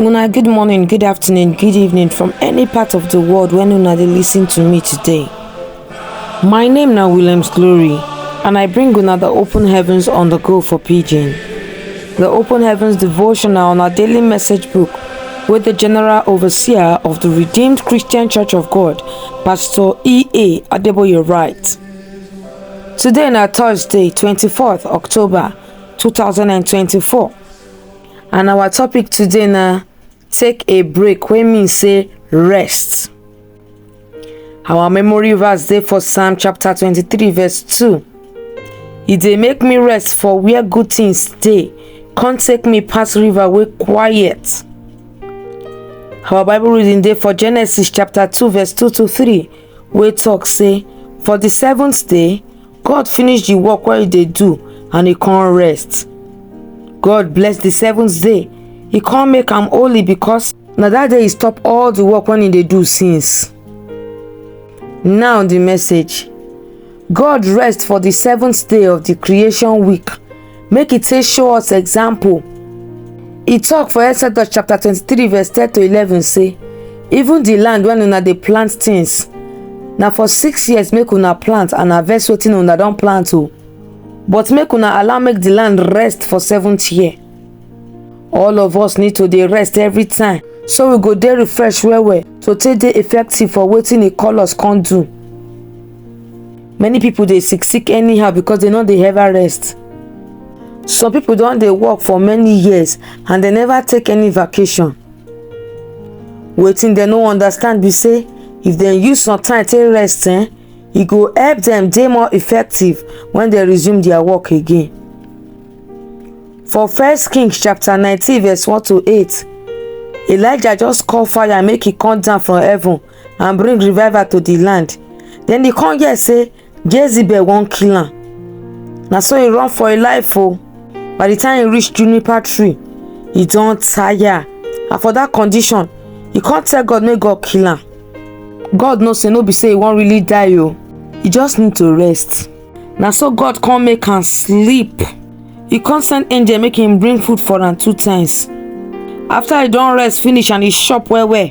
Una good morning, good afternoon, good evening from any part of the world when una dey listen to me today. My name na Williams Glory and I bring una the open heavens on the go for pidgin. The open heavens devotional na daily message book wey the general overseer of the Redeemed Christian Church of God Pastor E.A. Adeboye write, Today na Thursday, 24th October 2024 and our topic today na take a break wey mean say rest. Our memory verse dey for Psalm chapter 23 verse 2. E dey make me rest for where good things dey, come take me pass river wey quiet. our bible reading dey for genesis chapter 2 verse 2 to 3 wey talk say for the seventh day god finish the work wey he dey do and he come rest god bless the seventh day he come make am holy because na that day he stop all the work wey he dey do since now the message god rest for the seventh day of the creation week make e take show us example e talk for exodus chapter twenty-three verse ten to eleven say even the land when una dey plant things na for six years make una plant and harvest wetin una don plant o but make una allow make the land rest for seventh year all of us need to dey rest every time so we go dey refresh well well to take dey effective for wetin e call us come do many people dey sick sick anyhow because they no dey ever rest some people don dey work for many years and they never take any vacation wetin dem no understand be say if dem use some time take rest eh, e go help dem dey more effective when dem resume their work again for first kings chapter nineteen verse one to eight elijah just call fire make e come down from heaven and bring revival to the land then e come hear say jezebel wan kill am na so e run for im life o by the time e reach juniper tree e don tire and for that condition e come tell god make god kill am god know say no be say e wan really die o e just need to rest na so god come make am sleep e come send angel make him bring food for am two times after e don rest finish and e chop well well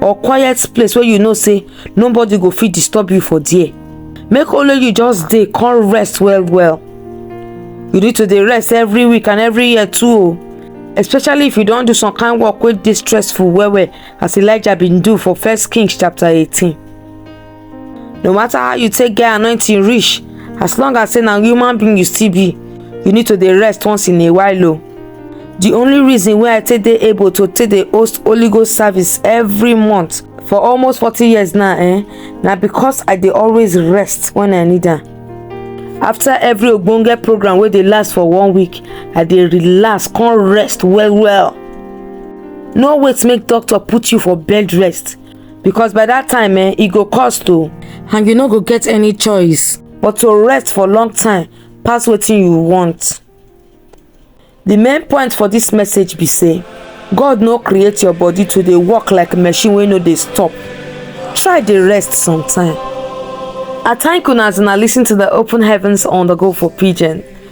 or quiet place wey you know say nobody go fit disturb you for there make only you just dey come rest well well you need to dey rest every week and every year too o especially if you don do some kind work wey dey stressful well well as elijah bin do for first kings chapter eighteen. no matter how you take get anointing reach as long as say na human being you still be you need to dey rest once in a while o the only reason wey i take dey able to take dey host holy ghost service every month for almost forty years now eh na because i dey always rest when i need am after every ogbonge program wey dey last for one week i dey relax come rest well well no wait make doctor put you for bed rest because by that time eh, e go cost o and you no go get any choice but to rest for long time pass wetin you want the main point for this message be say god no create your body to dey work like machine wey no dey stop try dey rest sometime i thank una as una lis ten to the open heavens on the go for pidgin